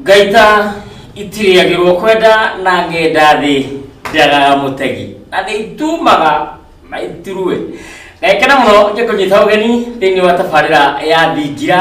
ngaita itirĩagĩrwo kwenda na ngenda thĩ njagaga mũtegi na nĩ itumaga na itirue ngekena mũno ngĩkũnyita ũgeni thĩinĩ wa tabarĩra ya thingira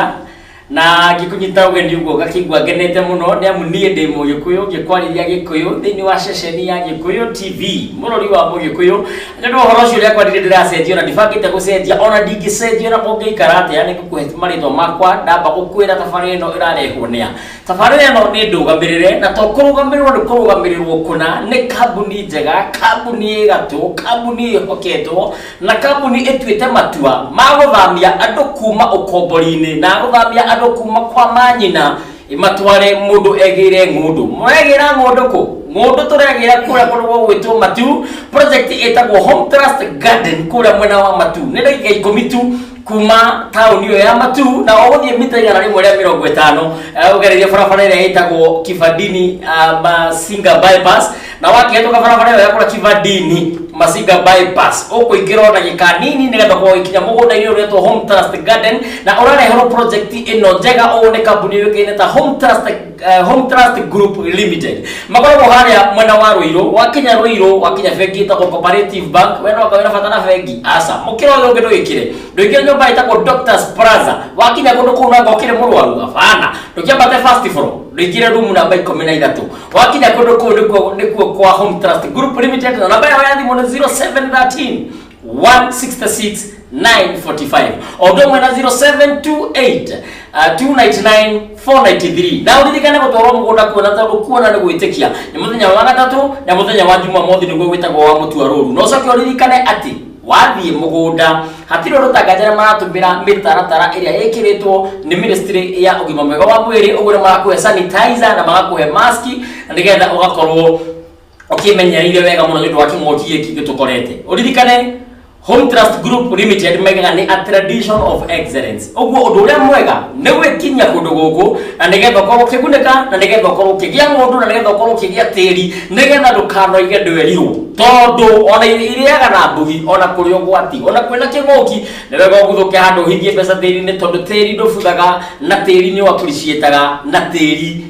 na ngĩkũnyita ũgeni ũguo ngakĩigua ngenete mũno nĩ amu niĩ ndĩ mũgĩkũyũ ngĩkwarĩria gĩkũyũ thĩinĩ wa ceceni ya gĩkũyũ tv mũrori wa mũgĩkũyũ na nĩ ũhoro ũcio ũrĩa kwarĩria ndĩracenjio na ndibangĩte gũcenjia ona ndingĩcenjio na kũngĩikara atĩa nĩ ngũkũhe marĩtwa makwa ndamba gũkwĩra tabarĩra ĩno ĩrarehwo nĩa tabarĩra ĩno nĩ ndũgamĩrĩre na to kũrũgamĩrĩrwo nĩ kũrũgamĩrĩrwo kũna nĩ kambuni njega kambuni ĩ gatũ kambuni ĩhoketwo Na kambuni ĩtuĩte matua ma gũthamia andũ kuma ũkombori-inĩ na gũthamia andũ kuma kwa manyina ĩmatware mũndũ egĩre ng'ũndũ. Mũregĩra ng'ũndũ kũ? Ng'ũndũ tũregĩra kũrĩa kũndũ gwĩtwo Matu, project ĩtagwo Home Trust Garden kũrĩa mwena wa Matu. Nĩ ndagĩka ikũmi tu. kuma tauni ĩyo ya matu na ũgũthiĩ mita igana rĩmwe rĩa mĩrongo ĩtano eh, ũgereire barabara ĩrĩa ĩtagwo kibadini ah, masinga bypass na wakĩhetũka barabara ĩyo ya kũra kibadini masinga bypass ũkũingĩra ona gĩka nini nĩgetha gũgĩkinya mũgũnda-inĩ ũretwo home trust garden na ũrareherwo project ĩno njega ũũ nĩ kambuni yũĩkaine ta home trust eh, home trust group limited makoragwo harĩa mwena wa rũirũ wakinya rũirũ wakinya bengi ĩtagwo cooperative bank wena ũkawĩra bata na bengi aca mũkĩra ũyũ ũngĩ ndũgĩkĩre ndũingĩre nyũmba ĩtagwo doctors plaza wakinya kũndũ kũu nanga ũkĩrĩ mũrwaru abana ndũkĩambate first floor ndũingĩre rumu namba ikũmi na ithatũ wakinya kũndũ kũu nĩkuo- nĩkuo kwa home trust group limited na namba yao ya thimũ nĩ 0713 166 945 ondo mwena 0728 uh, 299 493 na uririkane gutwarwo mugunda kuona tondu kuona ni gwitikia ni muthenya wa gatatu na muthenya wa juma mothi niguo gwitagwo wa mutua ruru no coke uririkane ati wathiĩ mũgũnda hatirĩ ũndũ tangatĩra maratũmĩra mĩtaratara ĩrĩa ĩkĩrĩtwo nĩ ministry ya ũgima mwega wa mwĩrĩ ũguo nĩ magakũhe sanitizer na magakũhe maski nĩgetha ũgakorwo ũkĩmenyereire wega mũno nĩũndũ wa kĩng'oki gĩkĩ gĩtũkorete ũririkane Home Trust Group Limited mega nĩ a tradition of excellence ũguo ũndũ ũrĩa mwega nĩ gwĩkinyia kũndũ gũkũ na nĩgetha ũkorwo ũkĩgunĩka na nĩgetha ũkorwo ũkĩgĩa ng'ũndũ na nĩgetha ũkorwo ũkĩgĩa tĩri nĩgetha ndũkanoige ndwerirwo tondũ ona irĩaga na mbugi ona kũrĩ ũgwati ona kwĩna kĩng'ũki nĩ wega ũguthũke handũ ũhithie mbeca tĩri-inĩ tondũ tĩri ndũbuthaga na tĩri nĩ ũappreciataga na tĩri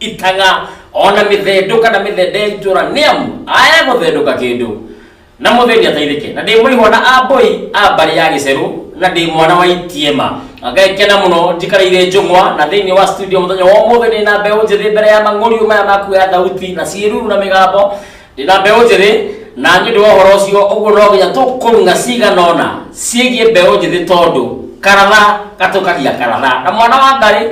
itaga ona mĩthendũ kana mĩthende ya itũra nĩ amu aya gũthendũka kĩndũ na mũthĩni ateithĩke na ndĩ mũihwa na amboi a mbarĩ ya gĩcerũ na ndĩ mwana wa itiema ngekena mũno njikareire njũng'wa na thĩinĩ wa studio mũthenya wa ũmũthĩ ndĩ na mbeũ njĩthĩ mbere ya mang'ũriũ maya maku ya thauti na ciĩruru na mĩgambo ndĩ na mbeũ njĩthĩ na nĩ ũndũ wa ũhoro ũcio ũguo no nginya tũkũrung'a cigana ũna ciĩgiĩ mbeũ njĩthĩ tondũ karatha gatũkagia karatha na mwana wa ngarĩ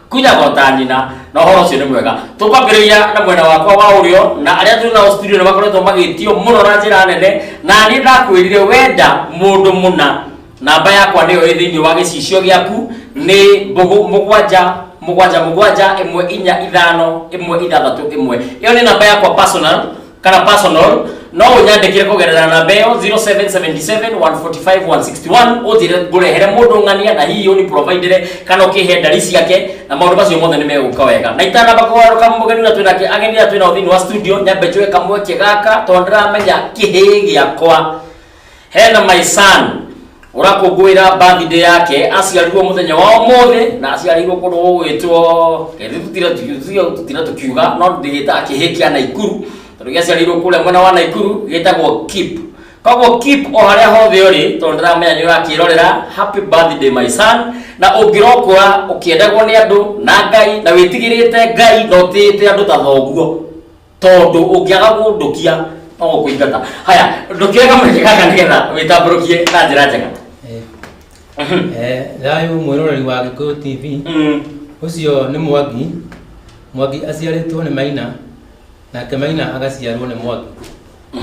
kunyagwo ta nyina na ũhoro ũcio nĩ mwega tũkwambĩrĩria na mwena wakwa wa ũrĩo na arĩa tũrĩ nao studio nĩ makoretwo magĩtio mũno na njĩra nene na niĩ ndakwĩrire wenda mũndũ mũna namba yakwa nĩyo ĩ thĩinĩ wa gĩcicio gĩaku nĩ mbũgũ mũgwanja mũgwanja mũgwanja ĩmwe inya ithano ĩmwe ithathatũ ĩmwe ĩyo nĩ namba yakwa personal kana personal no unyandikire kugerera namba iyo 0777145161 unjire ngurehere mundu ng'ania na hihi uni providere kana ukihe ndari ciake na maundu macio mothe ni meguka wega na itanamba kugaruka mugeni na twina ki- ageni na twina thiini wa studio nyambe njue kamweke gaka tondu ndiramenya kihi giakwa hena my son ũrakũngũĩra birthday yake aciarirwo mũthenya wa ũmũthĩ na aciarirwo kũndũ gũgwĩtwo ĩthĩ tũtira tũkiuga- tũtira tũkiuga no ndĩgĩtaga kĩhĩ kĩa naikuru tondũ gĩaciarirwo kũrĩa mwena wa naikuru gĩtagwo kip koguo kip o harĩa hothe ũrĩ tondũ ndĩramenya nĩ ũrakĩrorera happy birthday my son na ũngĩrokũra ũkĩendagwo nĩ andũ na ngai na wĩtigĩrĩte ngai na ũtĩĩte andũ ta thoguo tondũ ũngĩaga kũndũkia no gũkũingata haya ndũkĩoe kamweke gaka nĩgetha wĩtambũrũkie na njĩra njega Mhm. Eh, thayũ mwĩroreri wa gĩkũyũ tv Mm. ũcio nĩ mwangi mwangi aciarĩtwo nĩ maina nake maina agaciarwo nĩ mwangi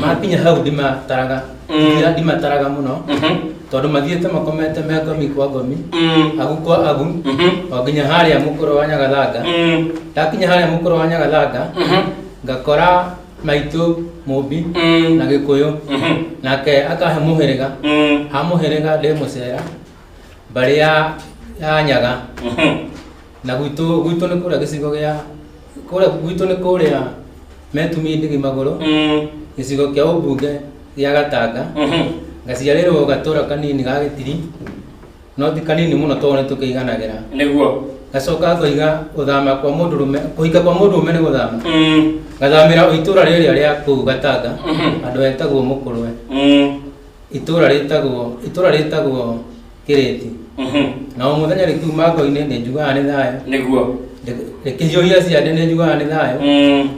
makinya hau ndimataraga Mm. Ngira ndimataraga mũno Mhm. tondũ mathiĩte makomete me ngomi kwa ngomi Mm. agu kwa agu Mhm. o nginya harĩa mũkũrũ wa nyagathanga Mm. ndakinya harĩa mũkũrũ wa nyagathanga Mhm. ngakora maitũ mũmbi Mm. na gĩkũyũ Mhm. nake akahe mũhĩrĩga Mm. ha mũhĩrĩga ndĩ mũcera mbarĩ ya ya nyaga Mhm. Na gwitũ gwitũ nĩ kũrĩa gĩcigo gĩa kũrĩa gwitũ nĩ kũrĩa metumie ndigi magũrũ Mm. gĩcigo kĩa ũmbunge gĩa Gatanga Mhm. ngaciarĩrwo gatũra kanini ga Gĩtiri no ti kanini mũno tondũ nĩ tũkĩiganagĩra Nĩguo. gacoka ngoiga gũthama kwa mũndũrũme kũhika kwa mũndũrũme nĩ gũthama Mm. ngathamĩra itũra rĩrĩa rĩa kũu Gatanga Mhm. andũ etagwo Mũkũrwe Mm. itũra rĩtagwo itũra rĩtagwo kĩrĩti na o mũthenya rĩkiuma ngo-inĩ nĩ njugaga nĩ thayũ nĩguo rĩkĩhiũhia ciande nĩ njugaga nĩ thayũ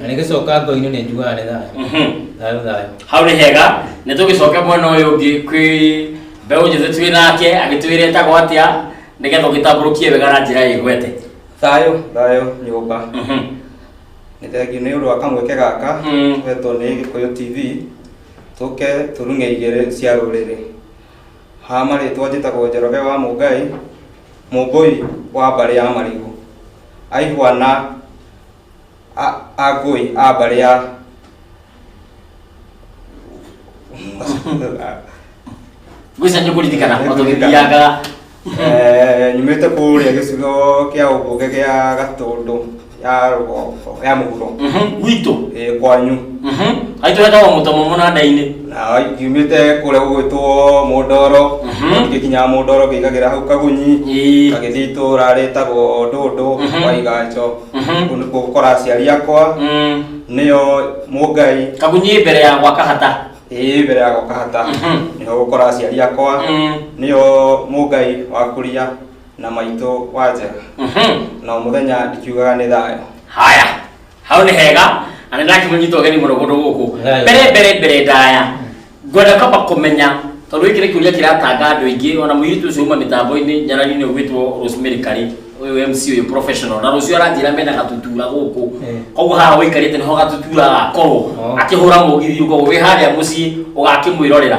na rĩgĩcoka ngo-inĩ nĩ njugaga nĩ thayũ thayũ thayũ hau nĩ hega nĩ tũgĩcoke mwena ũyũ ũngĩ kwĩ mbeũ njĩthĩ twĩ nake agĩtwĩre etagwo atĩa nĩgetha ũgĩtambũrũkie wega na njĩra ĩgwete thayũ thayũ nyũmba nĩ thengiũ nĩ ũndũ wa kamweke gaka wetwo nĩ gĩkũyũ tv tũke tũrung'e igĩrĩ cia rũrĩrĩ Ha marĩtwa njĩtagwo Njoroge wa Mũngai, Mũmbũi wa mbarĩ ya Marigũ, aihwa na a- Angũi a mbarĩ ya Ngwĩca nĩ kũririkana o tũgĩthiangaga. Eh, nyumĩte kũrĩa gĩcigo kĩa ũmbunge gĩa Gatũndũ. ya mũhuro gwitũ eh, kwanyu Mhm. aitũ enda wa mũtomo mũnanda-inĩ na ngiumĩte kũrĩa gũgwĩtwo mũndoro Mhm. ngĩkinyaga mũndoro ngĩigagĩra hau kagunyi Ĩĩ. gagĩthiĩ itũra rĩtagwo ndũndũ Mhm. kwa iganjo Mhm. kũu nĩkuo gũkora aciari akwa Mm. nĩyo mũngai kagunyi mbere ya gwaka hata ĩĩ mbere ya gũkahata Mhm. nĩho gũkora aciari akwa Mm. nĩyo mũngai wakuria na maitũ wa njega Mhm. na o mũthenya ndikiugaga nĩ thayũ haya hau nĩ hega na nĩ ndakĩmũnyita ũgeni mũno kũndũ gũkũ Thayũ. mbere mbere mbere ndaya ngwenda kwamba kũmenya tondũ gĩkĩ nĩ kĩũria kĩratanga andũ aingĩ ona mũirĩtu ũcio uma mĩtambo-inĩ nyarari-inĩ ũgwĩtwo rosemary karĩ ũyũ mc ũyũ professional na rũcio aranjĩra mena gatutura gũkũ Eh. koguo haha wĩikarĩte nĩho gatutura gakorwo Oh. akĩhũra mũgithi ũkorwo wĩ harĩa mũciĩ ũgakĩmwĩrorera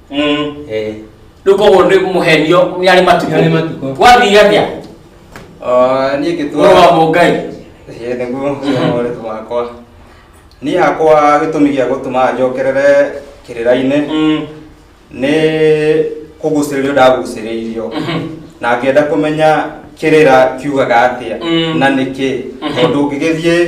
Mm. Eh. Rĩu koguo nĩ mũhenio nĩ arĩ Nĩ arĩ matukũ. matukũ. Gwathiire atĩa? Ah, niĩ Mũrũ wa ngĩtua Mũngai. Ĩĩ, nĩguo ũritũ wakwa niĩ hakwa gĩtũmi gĩa gũtũma njokerere kĩrĩra-inĩ Mm. nĩ kũgucĩrĩrio ndagucĩrĩirio Mhm. na ngĩenda kũmenya kĩrĩra kiugaga atĩa Mm. na nĩkĩ Mhm. tondũ ũngĩgĩthiĩ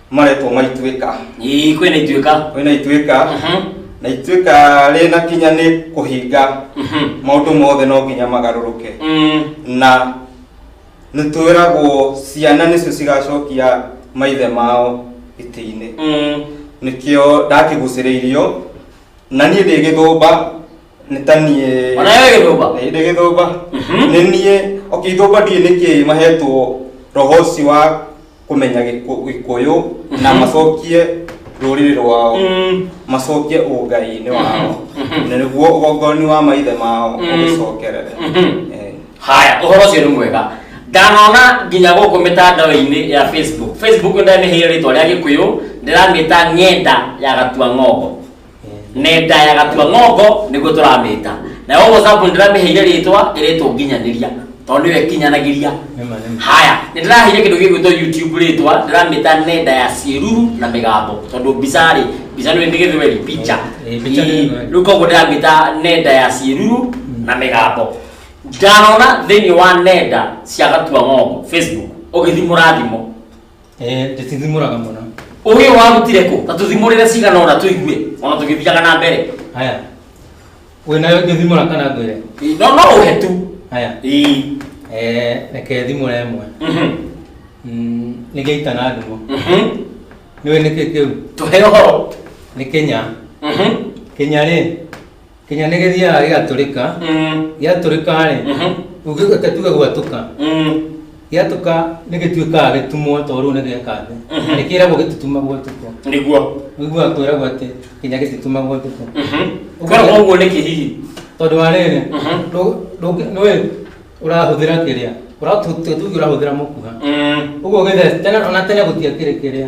maretwo maituĩka Ii, kwĩna ituĩka kwĩna ituĩka Mhm, na ituĩka rĩna kinya nĩ kũhinga mhm, maũndũ mothe no nginya magarũrũke mm, na nĩtwĩragwo ciana nĩcio cigacokia maithe mao itĩ-inĩ mm, nĩkĩo ndakĩgucĩrĩirio na niĩ ndĩ gĩthũmba nĩ ta niĩ Ona wewe gĩthũmba? Ĩ, ndĩ gĩthũmba Mhm. nĩ niĩ okay ithũmba ndiĩ nĩkĩ mahetwo roho ũcio wa kũmenya Gĩkũ- gĩkũyũ na macokie rũrĩrĩ rwao Mm. macokie ũngai-inĩ wao na nĩguo ũgongoni wa maithe mao Mm. ũgĩcokerere Mhm. Eh, haya ũhoro ũcio nĩ mwega ndanona nginya gũkũ mĩtandao-inĩ ya facebook facebook ndamĩheire rĩtwa rĩa gĩkũyũ ndĩramĩta ng'enda ya gatua ng'ongo nenda ya gatua ng'ongo nĩguo tũramĩta nayo whatsapp ndĩramĩheire rĩtwa ĩrĩtwo nginyanĩria tondũ nĩyo ĩkinyanagĩria haya nĩ ndĩraheire kĩndũ gĩgwĩtwo youtube rĩtwa ndĩramĩta nenda ya ciĩruru na mĩgambo tondũ mbica rĩ mbica nĩ nĩ gĩthweri picha Eh, picha nĩ Ii, gĩthweri. rĩu koguo ndĩramĩta nenda ya ciĩruru na mĩgambo ndanona thĩinĩ wa nenda cia gatua ng'ongo facebook ũgĩthimũra thimũ Eh, ndĩtithimũraga mũno ũgĩ ũyũ warutire kũ ta tũthimũrĩre cigana ũna tũigue ona tũgĩthiaga na mbere haya wĩna ngĩthimũra kana ngwĩre Ĩ, no no ũhe tu haya Ĩ, eh, reke thimũra ĩmwe mhm, Mm, nĩ gĩita na ndimũ mhm. nĩwe nĩkĩ kĩu tũhe ũhoro nĩ kenya Mhm. kenya rĩ kinya nĩ gĩthiaga gĩgatũrĩka Mm. gĩatũrĩka rĩ Mhm. ũngĩgwĩka tuge gwatũka Mm. gĩatũka nĩ gĩtuĩkaga gĩtumwo tondũ rĩu nĩ gĩeka thĩ Mhm. nĩ kĩragwo gĩtitumagwo ũtukũ Nĩguo. ũiguaga kwĩragwo atĩ kinya gĩtitumagwo ũtukũ Mhm. Ũguo- Koragwo ũguo nĩ kĩhihi. tondũ wa rĩrĩ Mhm. ndũ- ndũ- nĩwe ũrahũthĩra kĩrĩa ũratuge ũrahũthĩra mũkuha Mm. ũguo gĩthece tene ona tene gũtiakĩrĩ kĩrĩa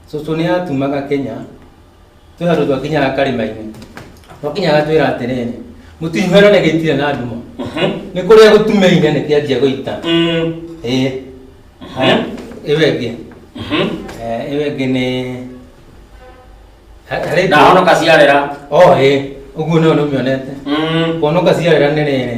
cũcũ nĩ atumaga kenya twĩ handũ twakinyaga karĩma-inĩ twakinyaga twĩra atĩrĩrĩ mũtinyuhera nĩ gĩitire na nduma nĩ kũrĩa gũtumeire nĩ kĩanjia gũita Mm. ĩĩ Mhm. ĩyo ĩngĩ Mhm. Eh, ĩyo ĩngĩ nĩ Ha- harĩ ndahonoka ciarĩra o ĩĩ ũguo nĩyo nĩ ũmĩonete Mm. kuonoka ciarĩra nĩ rĩrĩ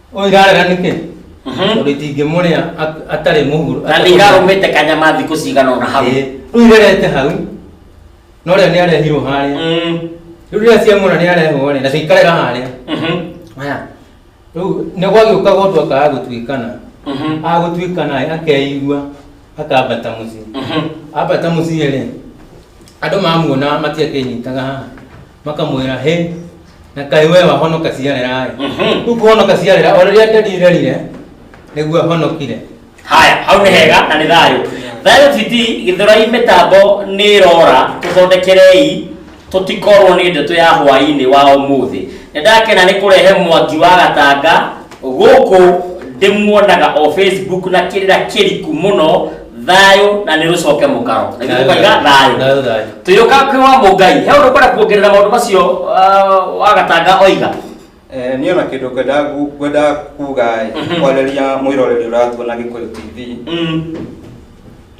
Ũyũ irarega nĩkĩ? Tondũ itingĩmũrĩa at- atarĩ mũhuru. na nĩ irarũmĩte kanyama thikũ cigana ona hau Ĩĩ, Rĩu irerete hau. No rĩo nĩarehirwo harĩa. Mm, Rĩu rĩrĩa ciamuona nĩarehwo rĩ, na cikarera harĩa. mhm, Haya. Rĩu nĩ gwagĩũka gũtũ akaga gũtuĩkana. mhm, Agũtuĩkana ĩ, akeigua akambata mũciĩ. mhm. Ambata mũciĩ rĩ, andũ mamuona matiakĩnyitaga haha. makamwĩra hĩ na kaĩ we wahonoka ciarĩra Mhm. rĩu kũhonoka ciarĩra o rĩrĩa nderirerire nĩguo ahonokire haya hau nĩ hega na nĩ thayũ thayũ titi gĩthurai mĩtambo nĩ ĩrora tũthondekerei tũtikorwo nĩ ndeto ya hwaĩ-inĩ wa ũmũthĩ nĩ ndakena nĩ kũrehe mwangi wa gatanga gũkũ ndĩmuonaga o facebook na kĩrĩra kĩriku mũno thayũ na nĩ rũcoke mũkaro na ithuĩ tũkaiga thayũ Thayũ, thayũ. tũyũka kwĩ wa mũngai he ũndũ kwenda kuongerera maũndũ macio ah, wagatanga oiga Eh, niĩ ona kĩndũ ngwendaga gu- ngwendaga kuga Mhm. kwarĩria mwĩroreri ũratuona gĩkũyũ tv Mm,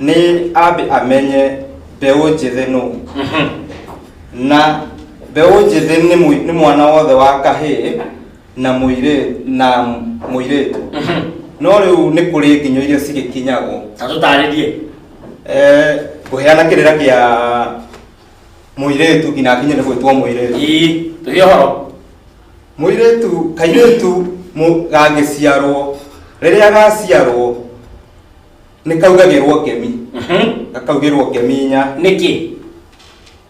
nĩ ambe amenye mbeũ njĩthĩ nũ mhm. na mbeũ njĩthĩ nĩ mwi- nĩ mwana wothe wa kahĩĩ na mũirĩtu na mũirĩtu no rĩu nĩ kũrĩ nginyo iria cigĩkinyagwo ta tũtarĩrie Eh, kũheana kĩrĩra kĩa mũirĩtu nginya akinye nĩ gwĩtwo mũirĩtu ii tũhe ũhoro mũirĩtu kairĩtu mũ- gangĩciarwo rĩrĩa gaciarwo nĩ kaugagĩrwo ngemi gakaugĩrwo ngemi inya nĩkĩ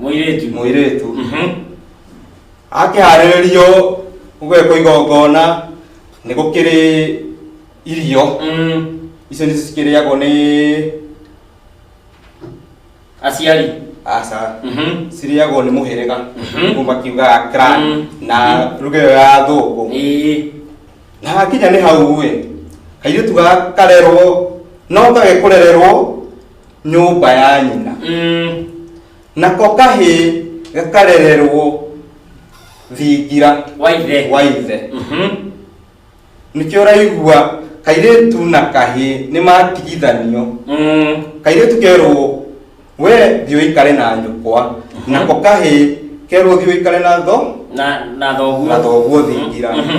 Mũirĩtu. mũirĩtu Mhm. akĩharĩrĩrio gwekwo igongona nĩ gũkĩrĩ irio Mm. icio nĩ cikĩrĩagwo nĩ Aciari. aca Mhm. cirĩagwo nĩ mũhĩrĩga Mhm. kuma kiugaga clan Mm. na ruga ĩyo ya thũngũ Ĩĩ. na hakinya nĩ hau ĩ kairĩtu gaka karerwo no gage kũrererwo nyũmba ya nyina Mm. nako kahĩ gakarererwo thingira Waithe. wa ithe Mhm. nĩkĩo ũraigua kairĩtu na kahĩ nĩ matigithanio Mm. kairĩtu kerwo we thiĩ ũikare na nyũkwa nako kahĩ kerwo thiĩ ũikare na tho Na na thoguo. na thoguo thingira Mhm.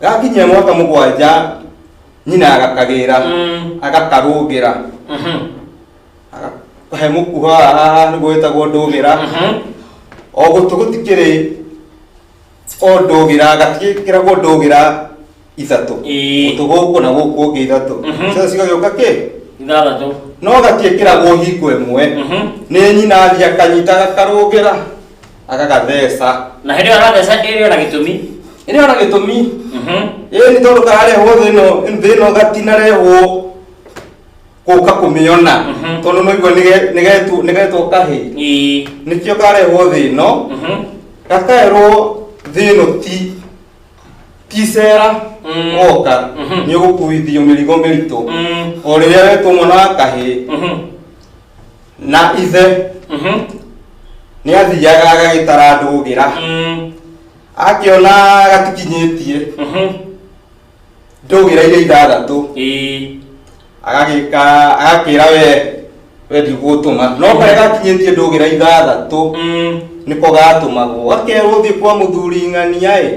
gakinyia mwaka mũgwanja nyina agakagĩra Mm. agakarũgĩra Mhm. he mũkuha haha nĩguo wĩtagwo ndũgĩra Mhm. o gũtũ gũtikĩrĩ o ndũgĩra gatigĩkĩragwo ndũgĩra ithatũ Ĩĩ. gũtũ gũkũ na gũkũ ũngĩ ithatũ Mhm. cio cigagĩũka kĩ ithathatũ no gatiĩkĩragwo hingo ĩmwe Mhm. nĩ nyina athiĩ akanyita gakarũgĩra agagatheca na hĩndĩ ĩyo aratheca ĩrĩ ona gĩtũmi ĩrĩ ona gĩtũmi Mhm. ĩĩ nĩ tondũ kararehwo thĩ ĩno thĩ ĩno gatinarehwo gũka kũmĩona Mhm. tondũ noigua nĩge- nĩgetwo nĩgetwo kahĩ Ĩĩ. nĩkĩo karehwo thĩ ĩno Mhm. gakaerwo thĩ ĩno ti ti icera Mm. woka Mhm. nĩ ũgũkuithio mĩrigo mĩritũ Mm. o rĩrĩa wetwo mwana wa kahĩ Mhm. na ithe Mhm. nĩ athiaga agagĩtara ndũgĩra Mm. akĩona gatikinyĩtie Mhm. ndũgĩra iria ithathatũ Ĩĩ. agagĩka agakĩra we we ndigũtũma no karĩa gakinyĩtie ndũgĩra ithathatũ Mm. nĩko gatũmagwo gakerwo thiĩ kwa mũthuri ng'ania ĩ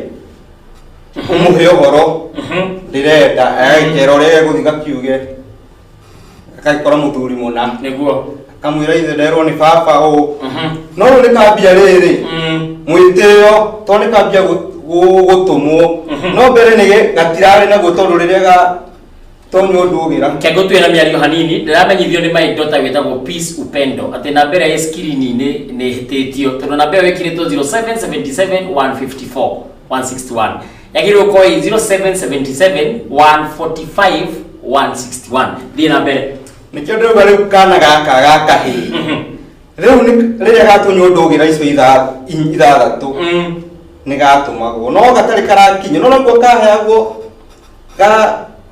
ũmũhe ũhoro Mhm. ndĩrenda agagĩkera ũrĩa egũthiĩ gakiuge gagĩkora mũthuri mũna nĩguo kamwĩra ithe nderwo nĩ baba ũũ Mhm. no rĩu nĩ kambia rĩrĩ Mm. mwĩtĩo to nĩ kambia gũ- gũ- gũtũmwo Mhm. no mbere nĩ gĩ- gatirarĩ naguo tondũ rĩrĩa ga tonywo ndũgĩra kego twĩ na mĩario hanini ndĩramenyithio nĩ my daughter wĩtagwo peace upendo atĩ namba ĩrĩa ĩ skirininĩ nĩ ĩhĩtĩtio tondũ namba ĩyo ĩkirĩtwo 0777 154 161 yagĩrĩirwo gũkorwo ĩ 0777 145 161 thiĩ na mbere nĩkĩo ndĩrauga rĩu kana gaka gakahĩ rĩu nĩ- rĩrĩa gatunywo ndũgĩra icio itha- i- ithathatũ Mm. nĩ gatũmagwo no gatarĩ karakinya no naguo kaheagwo ga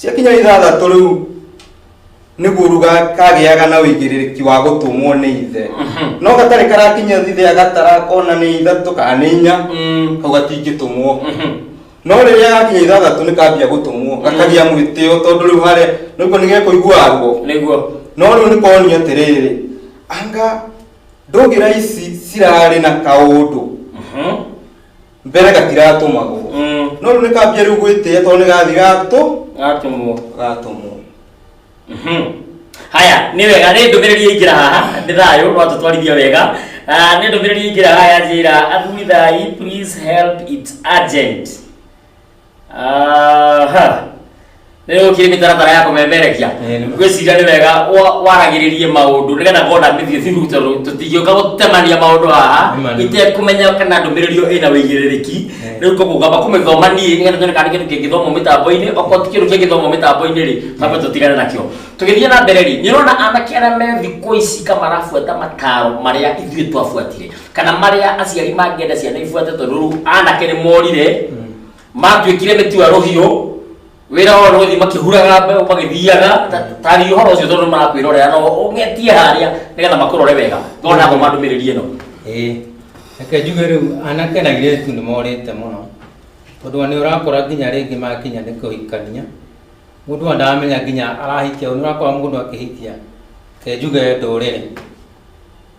Ciakinya ithathatũ rĩu nĩguo ruga kagĩaga na ũigĩrĩrĩki wa gũtũmwo nĩ ithe no gatarĩ karakinya thithe agatara kona nĩ ithatũ kana nĩ inya kau gatingĩtũmwo no rĩrĩa gakinya ithathatũ nĩ kambia gũtũmwo gakagĩa mwĩtĩo tondũ rĩu harĩa nĩguo nĩ gekũigua ruo nĩguo no rĩu nĩ konio atĩrĩrĩ anga ndũgĩra ici cirarĩ na kaũndũ mbere gatiratũmagwo Mm. no rĩu nĩkambia rĩu gwĩtĩa tondũ nĩgathi gatũ gatũmwo gatũmwo Mhm. haya nĩ wega nĩ ndũmĩrĩri yaingĩra haha nĩ thayũ rwatũtwarithia wega Ah, nĩ ndũmĩrĩri yaingĩra haha yanjĩra athuri thai please help it urgent Aha. Rĩu ũkire mĩtaratara ya kũmemerekia Eh, nĩ- gwĩciria nĩ wega wa- waragĩrĩrie maũndũ nĩgetha ngona mĩthiĩ thiru tondũ tũtingĩũka gũtemania maũndũ haha Nĩ ma, nĩ ma. itekũmenya kana ndũmĩrĩri ĩyo ĩna wĩigĩrĩrĩki Eh. rĩu koguo ngamba kũmĩthoma niĩ nĩgetha nyone kana nĩ kĩndũ kĩngĩthomwo mĩtambo-inĩ okorwo ti kĩndũ kĩngĩthomwo mĩtambo-inĩ rĩ twambe tũtigane nakĩo tũgĩthiĩ na mbere rĩ nĩ ũrona anake arĩa me thikũ ici ka marabuata mataro marĩa ithuĩ twabuatire kana marĩa aciari mangĩenda ciana ibuate tondũ rĩu anake nĩ morire matuĩkire mĩtu ya rũhiũ wĩra wao nĩ gũthiĩ makĩhuraga mbeũ magĩthiaga ta- taria ũhoro ũcio tondũ marakwĩrorera no ũgetie harĩa nĩgetha makũrore wega no nagwo mandũmĩrĩrie no ĩĩ reke njuge rĩu anake na airĩtu nĩ morĩte mũno tondũ ona nĩ ũrakora nginya rĩngĩ makinya nĩ kũhikania mũndũ ona ndaramenya nginya arahikia ũyũ, nĩ ũrakora mũndũ akĩhikia reke njuge ndũrĩrĩ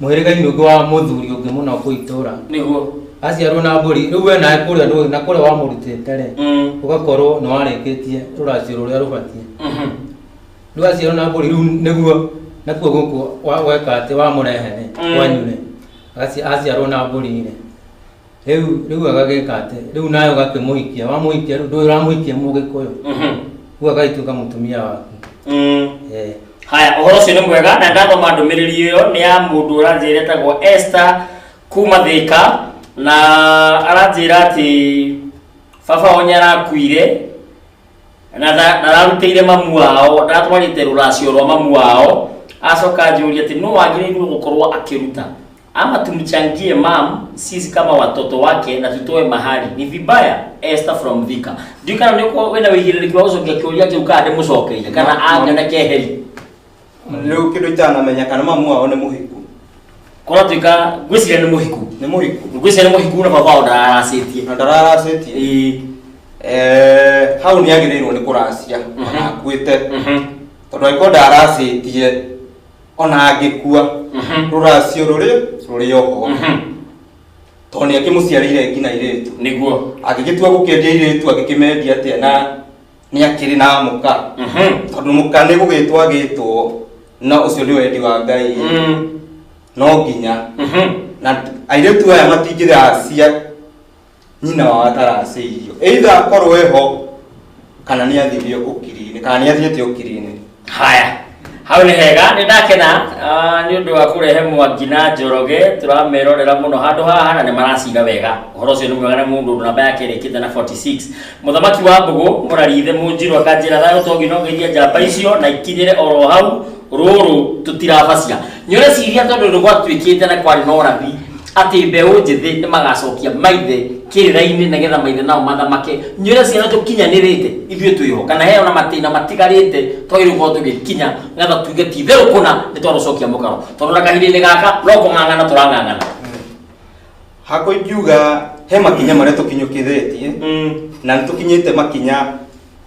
Mũhĩrĩga-inĩ ũngĩ wa mũthuri ũngĩ mũna kũu itũũra nĩguo aciarwo na mbũri rĩu we nawe kũrĩa ndũĩ na kũrĩa wamũrutĩte rĩ ũgakorwo nĩ warĩkĩtie rũracio rũrĩa rũbatiĩ rĩu aciarwo na mbũri rĩu nĩguo nakuo gũkũ wa- weka atĩ wamũrehe rĩ kwanyu rĩ agaci- aciarwo na mbũri rĩ rĩu rĩu agagĩka atĩ rĩu nawe ũgakĩmũhikia wamũhikia rĩu ndũĩ ũramũhikia mũgĩkũyũ Mhm. rĩu agagĩtuĩka mũtumia waku Mm. Eh, haya ũhoro ũcio nĩ mwega na ndathoma ndũmĩrĩri ĩyo nĩ ya mũndũ ũranjĩra etagwo Esther kuma thĩka na aranjĩra atĩ baba wao nĩarakuire na nda- ndararutĩire mamu wao ndaratwarĩte rũracio rwa mamu wao acoka anjũria atĩ nũ wagĩrĩirwo gũkorwo akĩruta ama tumchangie mam sisi kama watoto wake na tutoe mahali ni vibaya Esther from Thika ndio kana niko wena wigiriri kwa uzo ngekiuria kiu kana ndimucokeire kana Ma- anga na keheri Rĩu kĩndũ itanamenya kana mamu wao nĩ mũhiku. kora tuika gwiciria ni muhiku Nĩ mũhiku. gwiciria ni muhiku na baba ona aracetie Na ndararacĩtie. eh Eh, hau nĩ agĩrĩirwo nĩ kũracia. Mhm. Ona akuĩte. mhm Tondũ angĩkorwo ndaracĩtie ona angĩkua Mhm. rũracio rũrĩ rũrĩ oho Mhm. tondũ nĩ akĩmũciarĩire ngina irĩtu nĩguo agĩgĩtua gũkĩendia irĩtu agĩkĩmendia atĩa na nĩ akĩrĩ na mũka Mhm. tondũ mũka nĩ gũgĩtwo agĩtwo na ũcio nĩ wendi wa ngai Mm. no nginya Mhm. na airĩtu aya matingĩgacia nyina wao ataracĩirio either akorwo eho kana nĩ athire ũkiri-inĩ kana nĩ athiĩte ũkiri-inĩ haya hau nĩ hega nĩ ndakena ah, nĩ ũndũ wa kũrehe mwangi na njoroge tũramerorera mũno handũ haha na nĩ maracira wega ũhoro ũcio nĩ mwega na mũndũ ũndũ namba yake ĩrĩkĩte na 46 mũthamaki wa mbũgũ mũrarithe mũnjirũ akanjĩra thayũ togi no ngeithia njamba icio na ikinyĩre oro hau rũrũ tũtirabacia nĩũreciria tondũ nĩ gwatuĩkĩte na kwarĩ na ũrathi atĩ mbeũ njĩthĩ nĩ magacokia maithe kĩrĩra-inĩ nĩgetha maithe nao mathamake nywĩra ciana tũkinyanĩrĩte ithuĩ twĩho kana heo na matĩna matigarĩte twagĩrĩirwo gũkorwo tũgĩkinya nĩgetha tuge ti itherũ kũna nĩ twarũcokia mũkaro tondũ na kahinda-inĩ gaka no kũng'ang'ana tũrang'ang'ana hakwa ingiuga he makinya marĩa tũkinyũkĩrĩtie na nĩ tũkinyĩte makinya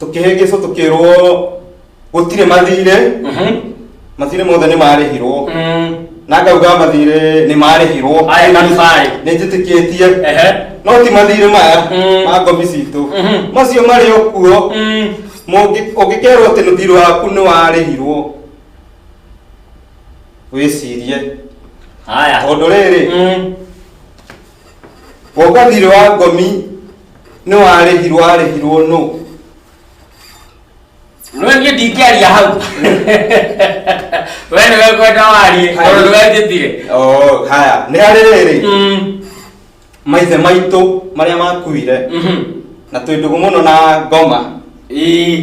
tũkĩhĩngĩcwo tũkĩrwo gũtirĩ mathirĩ Mhm. mathirĩ mothe nĩ marĩhirwo Mm. na ngauga mathirĩ nĩ marĩhirwo Aya na Nyasaye. nĩ njĩtĩkĩtie Ehe. no ti mathirĩ maya Mm. ma ngomi citũ Mhm. macio marĩ o kuo Mm. Mũngĩ- ũngĩkerwo atĩ mũthirĩ waku nĩ warĩhirwo wĩcirie Haya. tondũ rĩrĩ Mm. Woka thirĩ wa ngomi nĩ warĩhirwo arĩhirwo nũ? No niĩ ndingĩaria hau. Wee nĩwe ũkwenda warie, tondũ ndũgetĩkire. Oo, haya, nĩ harĩ rĩrĩ, Mm, maithe maitũ marĩa makuire mhm. na twĩ ndũgũ mũno na ngoma Ĩĩ.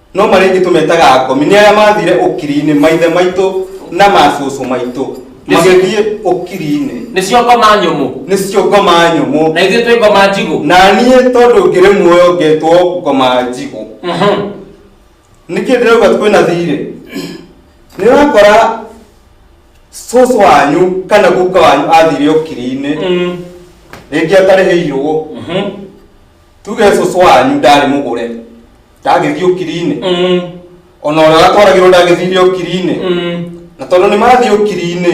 no marĩa ingĩ tũmetaga akomi nĩ arĩa mathire ũkiri-inĩ maithe maitũ na macũcũ maitũ magĩthiĩ ũkiri-inĩ nĩcio ngoma nyũmũ nĩcio ngoma nyũmũ na ithuĩ twĩ ngoma njigũ na niĩ tondũ ngĩrĩ muoyo ngetwo ngoma njigũ Mhm. nĩkĩ ndĩrauga kwĩna thirĩ nĩ ũrakora cũcũ wanyu kana guka wanyu athire ũkiri-inĩ Mm. rĩngĩ atarĩhĩirwo Mhm. tuge cũcũ wanyu ndarĩ mũgũre ndagĩthiĩ ũkiri-inĩ Mm. ona ũrĩa watwaragĩrwo ndagĩthire ũkiri-inĩ Mm. na tondũ nĩ mathiĩ ũkiri-inĩ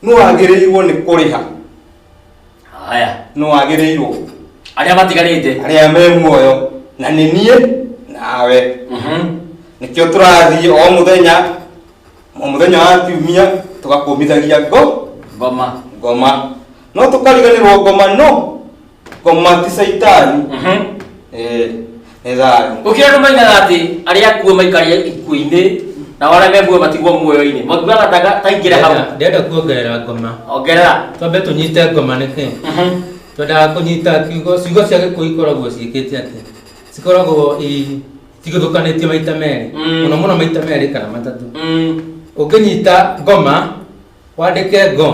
nĩ wagĩrĩirwo nĩ kũrĩha haya nĩ wagĩrĩirwo arĩa matigarĩte arĩa me muoyo na nĩ niĩ nawe Mhm. nĩkĩo tũrathiĩ o mũthenya o muthenya wa kiumia tũgakũmithagia ngo ngoma ngoma no tũkariganĩrwo ngoma no ngoma ti caitani Eh, nĩ thayũ gũkĩra andũ maigaga atĩ arĩa akuo maikaria ikuũ-inĩ na arĩa me muoyo matigwo muoyo-inĩ makiugaga ta- taingĩre hau Ndenda- ndenda kuongerera ngoma ongerera twambe tũnyite ngoma nĩkĩ twendaga kũnyita kiugo ciugo cia gĩkũyũ ikoragwo ciĩkĩte atĩ cikoragwo i tigũthũkanĩtio maita merĩ Mm. mũno mũno maita merĩ kana matatũ Mm. ũngĩnyita ngoma wandĩke ngo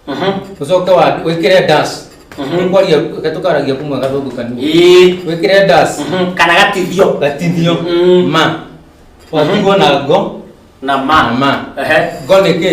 Mhm. ũcoke wa- wĩkĩre das Mhm. Nĩ kwaria reke tũkaragia kumwe gathũngũ kanini Ĩĩ. wĩkĩre das Mhm. kana gatithio gatinio Mm. ma watigwo na ngo na na ma ma Ehe. ngo nĩ kĩ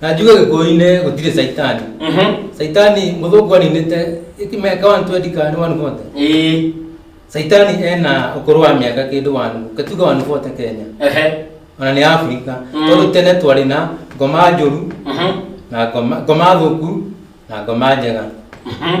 na njuge gĩkũyũ-inĩ gũtirĩ caitani Mhm. caitani mũthũngũ aninĩte mĩaka 120 kana nĩ 140 Ĩĩ. caitani ena ũkũrũ wa mĩaka kĩndũ wanu katuga 140 kenya Ehe. ona nĩ afrika Mm. tondũ tene twarĩ na ngoma njũru Mhm. na ngoma ngoma thũku na ngoma njega Mhm.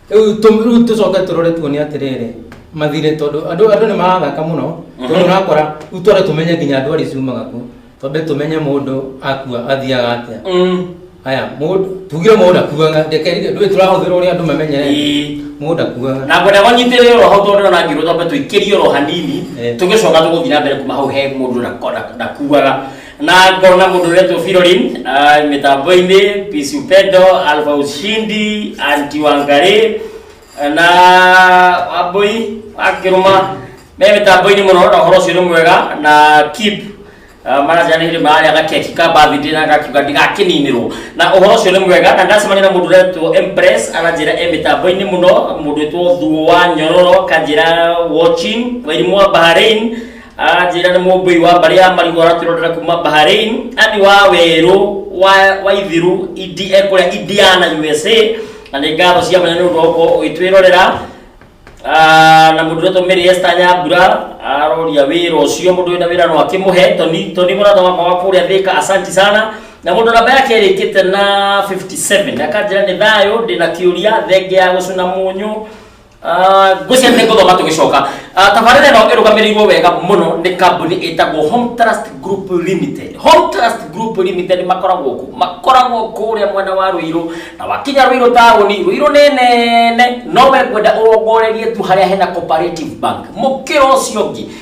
Rĩu tũ- rĩu tũcoke tũrore tuone atĩrĩrĩ mathirĩ tondũ andũ andũ nĩ marathaka mũno tondũ ũrakora rĩu tware tũmenye nginya andũ arĩa ciumaga kuo twambe tũmenye mũndũ akua athiaga atĩa Mm. haya mũndũ tugire mũndũ akuaga reke ndũĩ tũrahũthĩra ũrĩa andũ mamenyere Ĩĩ. mũndũ akuaga na ngwenda kũnyitĩrĩra oro hau tondũ ona ngirwo twambe tũikĩrie oro hanini Eh. tũgĩcoka tũgũthiĩ na mbere kuma hau he mũndũ ndakuaga na ngona mundu uretwo Firorin ah, mitambo-ini Peace Upendo Alpha Ushindi Anti Wangari na Wambui Akiruma me mitambo-ini muno na horo ucio ni mwega na keep ah, marajanire mararĩa gakeki ka birthday na gakiuga ndigakininirwo na uhoro ucio ni mwega na ndacemania na mundu uretwo Empress aranjira e mitambo-ini muno mundu witwo Thuo wa Nyororo kanjira watching wairimwo Bahrain anjĩra nĩ mũmbũi wa mbarĩ ya marigũ aratwĩrorera kuma bahrain ani wa werũ wa, wa ithiru idi ekũrĩa indiana usa na nĩ ngatho cia mwanya nĩ ũndũ wa gũkorwo ũgĩtwĩrorera Ah, na mũndũ wetwo mĩrĩ esta nyambura aroria wĩra ũcio mũndũ wĩna wĩra no akĩmũhe toni toni mũratha wakwa wa kũrĩa thĩka asanti sana na mũndũ namba yake ĩrĩkĩte na 57 akanjĩra nĩ thayũ ndĩna kĩũria thenge ya gũcuna mũnyũ Ah, ngwĩciria nĩ ngũthoma tũgĩcoka Ah, tabarĩra ĩno ĩrũgamĩrĩirwo wega mũno nĩ kambuni ĩtagwo home trust group limited home trust group limited makoragwo kũ makoragwo kũrĩa mwena wa rũirũ na wakinya rũirũ taũni rũirũ nĩ nene no we ngwenda ũrongorerie tu harĩa hena cooperative bank mũkĩra ũcio ũngĩ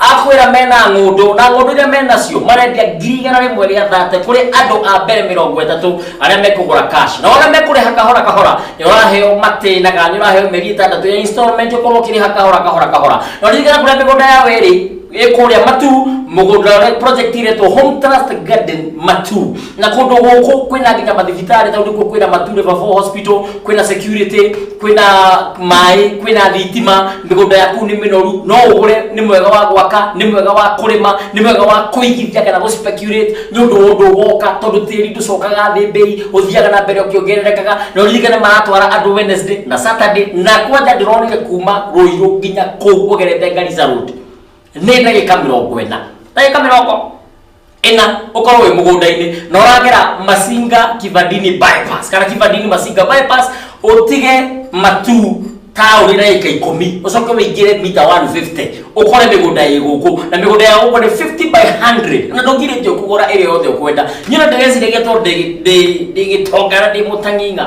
Akwĩra mena ng'ũndũ na ng'ũndũ iria menacio marendia ngiri igana rĩmwe rĩa thate kũrĩ andũ a mbere mĩrongo ĩtatũ arĩa mekũgũra cash nao arĩa mekũrĩha kahora kahora nĩ ũraheo matĩnaga nĩ ũraheo mĩeri ĩtandatũ ya installment ũkorwo ũkĩrĩha kahora kahora kahora na ririkana kũrĩa mĩgũnda ya wĩrĩ ĩkũrĩa matu mũgũnda ũrĩa project iretwo home trust garden matu na kundu guku kwina nginya mathibitari tondu kuo kwina mature babo hospital kwina security kwina mai kwina thitima migunda yaku ni minoru no ugure ni mwega wa gwaka ni mwega wa kurima ni mwega wa kuigithia kana gu speculate ni undu undu woka tondu tiri nducokaga thi mbei uthiaga na mbere ukiongererekaga na uririkane maratwara andu wednesday na saturday na kwanja ndironire kuma ruiru nginya kuu ugerete ngarica road nä ndagä ka mä rongo ena ndagä ka mä rongo ĩna ũkorwo wĩ mũgũnda-inĩ na ũragera masinga kibandini bypass kana kibandini masinga bypass ũtige matu taũni na ĩka ikũmi ũcoke wĩingĩre mita 150 ũkore mĩgũnda ĩ gũkũ na mĩgũnda ya gũkũ nĩ 50 by 100 na ndũgirĩtio kũgũra ĩrĩa yothe ũkwenda nyona ndĩreciragia tondũ ndĩ- ndĩ- ndĩgĩtongana ndĩ mũtang'ing'a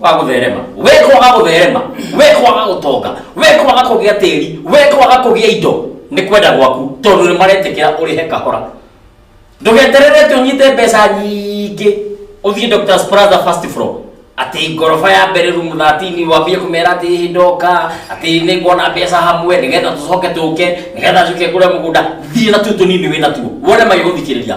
wa gutherema we kwaga gutherema we kwaga gutonga we kwaga kugia tiri we kwaga kugia indo ni kwenda gwaku tondu ni maretikira urihe kahora ndugeterere ti unyite mbeca nyingĩ ũthiĩ dr spraza first floor atĩ ngoroba ya mbere rumu thatini wambie kũmera atĩ hihi ndoka atĩ nĩ nguona mbeca hamwe nĩgetha tũcoke tũke nĩgetha njuke ngũre mũgũnda thiĩ na tuo tũnini wĩ natuo wone magĩgũthikĩrĩria